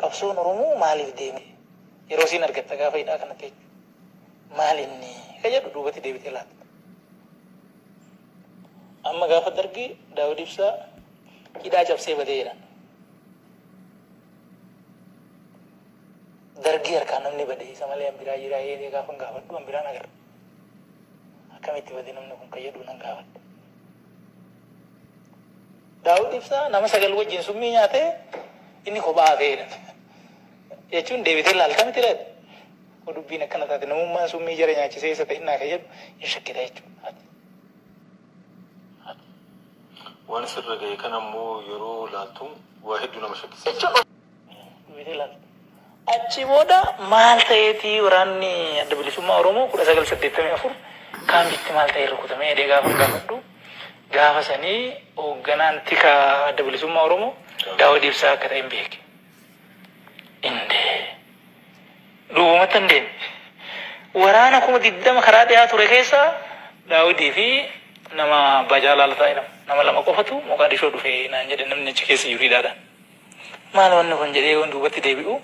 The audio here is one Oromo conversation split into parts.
Qabsoon Oromoo maaliif deeme? Yeroo isiin argatta gaafa hidhaa kanatti jechuudha. Maal inni? Ka jedhu duubatti deebitee laatta. Amma gaafa dargi Daawud Ibsaa hidhaa cabsee badee jedhan. Dargii harkaa namni bade isa malee an biraa jiraa jedhee gaafa gaafadhu an biraan agarra. Akkamitti bade namni kun ka jedhu nan gaafadhe. Daawud Ibsaa nama sagal wajjin summii nyaatee inni kophaa hafee hidhame. Jechuun deebitee laalta miti laata? Yoo dubbiin akkana taate namummaan summii jara nyaachisee isa ta'innaa kan jedhu hin shakkita jechuudha. Waan isirra ga'e kana immoo yeroo laaltu waa hedduu nama shakkisiisa. Achii booda maal ta'eeti waraanni Adda Bilisummaa Oromoo 1984 kaambiitti maal ta'ee rukutamee jedhee gaafan gaafadhu gaafa sanii hoogganaan tika Adda Bilisummaa Oromoo Daawud Ibsaa akka ta'en beeke. Indee duubumatti hin deeme. Waraana kuma 20 karaa dhiyaa ture keessaa Daawudii fi nama Abbaa Jaalaa Lataa jedhamu nama lama qofatu Moqaadishoo dhufe naan jedhe namni achi keessa jiru hidhaadhaan. Maal wanni kun jedhee yoon duubatti deebi'u,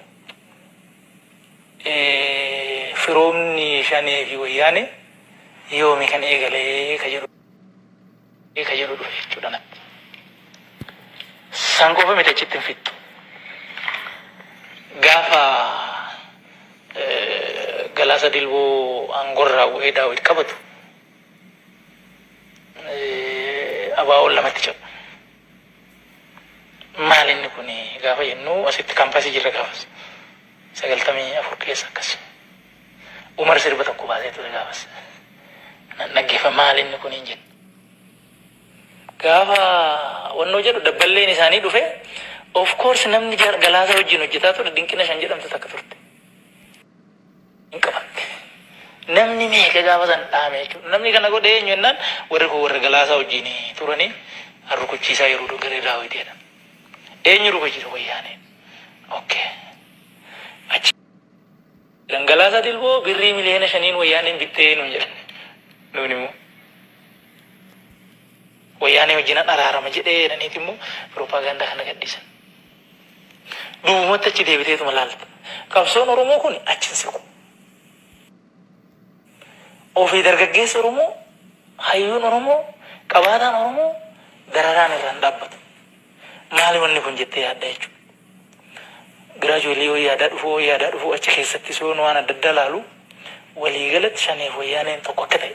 firoomni Shanee fi Wayyaanee yoomi kan eegale ka jedhu dhufe jechuudha natti. San qofa miti achitti hin fixxu. Gaafa Galaasa Dilboo aangorraa bu'ee Daawit qabatu ABOn lamatti cabu. Maal inni kun gaafa jennu asitti kampasii jirra gaafas. Sagaltamii afur keessa akkas. Umar sirba tokko baasee ture gaafas. Nan dhaggeeffa maal inni kun hin jedhu. Gaafa wannoo jedhu dabballeen isaanii dhufe of course namni jar- galaasa wajjin hojjetaa ture dinqina shan jedhamtu takka turte. hin qaban. Namni meeqa gaafa san dhaame jechuudha. Namni kana godhe eenyu jennaan warri kun warra Galaasaa wajjin turanii rukuchiisaa yeroo dhu garee Daawit jedhan. Eenyu rukuchiisa wayyaaneen. Okay. Achi kan Galaasaa Dilboo birrii miliyoona shaniin wayyaaneen bittee nuun jedhan. Nuun immoo wayyaanee wajjin araarama jedhee jedhaniiti immoo pirooppaagaandaa kana gadhiisan. Duubumatti achi deebiteetuma laalta. Qabsoon Oromoo kun achi hin siqu. Ofii dargaggeessi Oromoo, hayyuun Oromoo, qabaataan Oromoo dararaan irraa hin dhaabbatu. Maali wanni kun jettee yaadda jechuudha. Giraajuweelii yoo yaadaa dhufu yoo yaadaa dhufu achi keessattis yoo waan adda addaa laalu waliigalatti shaneef wayyaaneen tokko akka ta'e.